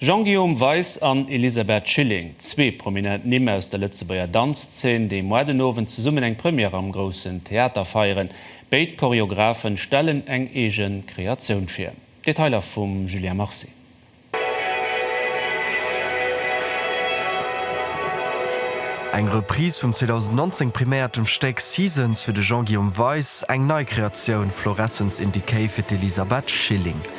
Jean-Guillaume Weis an Elisabeth Schilling, zwee prominent Nimm aus der Lëtzebuerger Danzzeen, déi moar den Owend zesummen eng Première am Groussen Theater feieren. Béid Choreografen stellen eng eege Kreatioun vir. Detailer vum Julien Marcy. Eng Reprise vum 2019 priméiertem Stéck Seasons fir de Jean-Guillaume Weis, eng nei Kreatioun Florescence in Decay fir d'Elisabeth Schilling.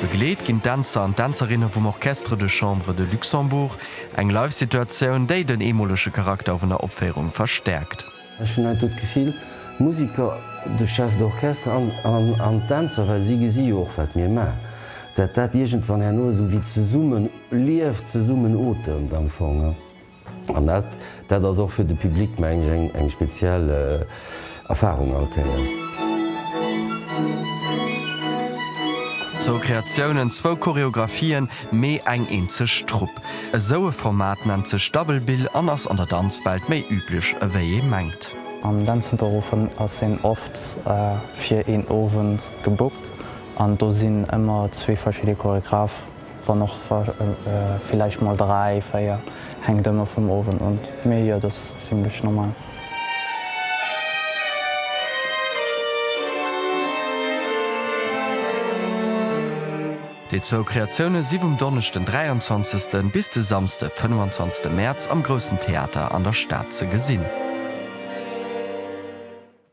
Begleet ginn d'Dänzer an d'Dänzerinne vum Orchestre de Chambre de Luxembourg. Eng Live-Situatioun, déi den eemolege Charakter vun der Opféierung verstäerkt. Ech hunn haut do d'Gefill, d'Musiker, de Chef d'orchestre an d'Dänzer, well si gesi jo och, wat mir maachen, dat dat iergendwann herno esou wéi zesummen lieft, zesummen otemt am Fong. An dat dat ass och fir de Public, mengen ech, eng eng speziell Erfahrung all Kéiers. Zwou Kreatiounen, zwou Choreographien, mee eng eenzeg Trupp. Esou e Format nennt sech Double Bill an ass an der Danzwelt méi üblech ewéi ee mengt. Am Dänzebërofen ass een oft fir een Owend gebookt an do sinn ëmmer zwee verschidde Choregraphen. Wann och villäicht mol 3, 4, hänkt ëmmer vum Owend un, mee jo, dass zimlech normal. Déi zwou Kreatioune si vum Donneschden den 23 bis de Samsde 25 Mäerz am Groussen Theater an der Stad ze gesinn.